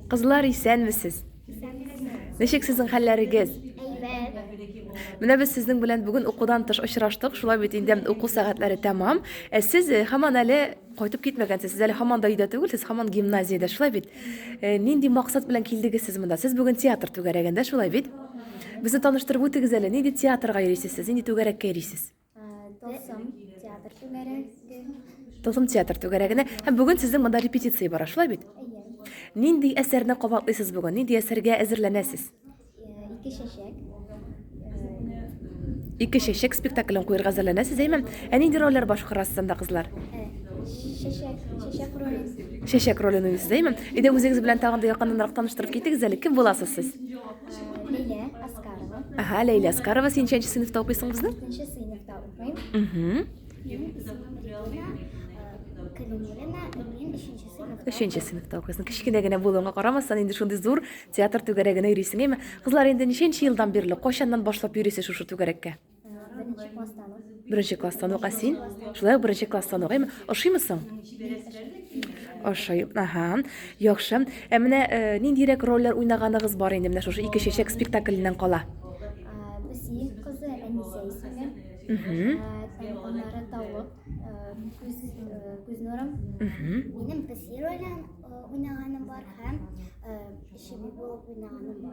Кызлар, исәнмесез? Ничек сезнең хәлләрегез? Менә без сезнең белән бүген укудан тыш очраштык. Шулай бит инде уку сәгатьләре тәмам. Ә сез э, һаман әле кайтып китмәгәнсез. Сез әле һаман да өйдә түгел, сез һаман гимназиядә. Шулай бит. Э, нинди максат белән килдегез сез монда? Сез бүген театр түгәрәгендә, шулай бит? Безне таныштырып үтегез әле, нинди театрга йөрисез сез? Нинди түгәрәккә йөрисез? Тылсым театр түгәрәге. Тылсым театр түгәрәгенә. Һәм бүген сезнең монда репетиция бара, шулай бит? Нинди әсәрне кабатлыйсыз бүген? Нинди әсәргә әзерләнәсез? Ике чәчәк. Ике чәчәк спектаклен куярга әзерләнәсез, әйме? Ә нинди рольләр башкарасыз анда, кызлар? Чәчәк, чәчәк ролен. Чәчәк ролен уйныйсыз, әйме? Иде үзегез белән тагын да якыннанрак таныштырып китегез әле, кем буласыз сез? Лилия Аскарова. Ага, Лилия Аскарова, син ничәнче сыйныфта укыйсың безнең? Икенче сыйныфта укыйм. Угу. Өченче сыйныфта укыйсың. Кечкенә генә булуыңа карамастан, инде шундый зур театр түгәрәгенә йөрисең, әйме? Кызлар, инде ничәнче елдан бирле, кайчаннан башлап йөрисез шушы түгәрәккә? Беренче класстан ук. Беренче класстан ук, ә син? Шулай ук беренче класстан ук, әйме? Ошыймы соң? Ошый, ага, яхшы. Ә менә э, ниндирәк рольләр уйнаганыгыз бар инде менә шушы ике чәчәк спектакленнән кала? Бесиев кызы Әнисә исеме. Аннары тавык, күз, күз нурым. Минем песи ролен уйнаганым бар һәм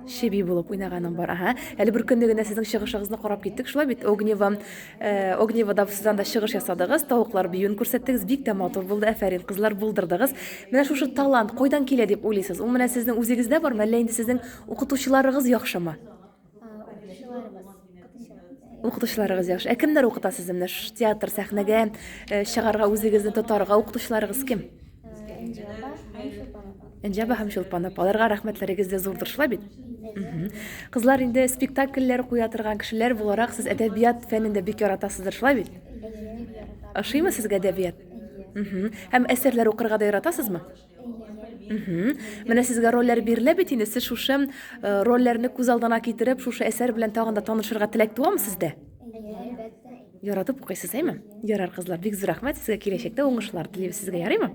Чеби булып уйнаганың бар. Ага. Әле бер көнне генә сезнең чыгышыгызны карап киттек. Шулай бит Огнева, э, Огнева да сез анда чыгыш ясадыгыз, тавыклар биюен күрсәттегез. Бик тә матур булды. Афәрин, кызлар булдырдыгыз. Менә шушы талант кайдан килә дип уйлыйсыз? Ул менә сезнең үзегездә бармы, әллә инде сезнең укытучыларыгыз яхшымы? Укытучыларыгыз яхшы. Ә кемнәр укыта сезне менә ш- театр сәхнәгә э, чыгарга үзегезне тотарга укытучыларыгыз кем? Энҗаба һәм Чулпан апа. Аларга рәхмәтләрегез дә зурдыр шулай бит? Мгм. Кызлар инде спектакльләр куя торган кешеләр буларак сез әдәбият фәнен дә бик яратасыздыр шулай бит? Ошыймы сезгә әдәбият? Мгм. Һәм әсәрләр укырга да яратасызмы? Мхм. Менә сезгә рольләр бирелә бит инде. Сез шушы э, рольләрне күз алдына китереп, шушы әсәр белән тагын да танышырга теләк туамы сездә? Яратып укыйсыз, әйме? Ярар, кызлар, бик зур рәхмәт сезгә киләчәктә уңышлар телибез сезгә, ярыймы?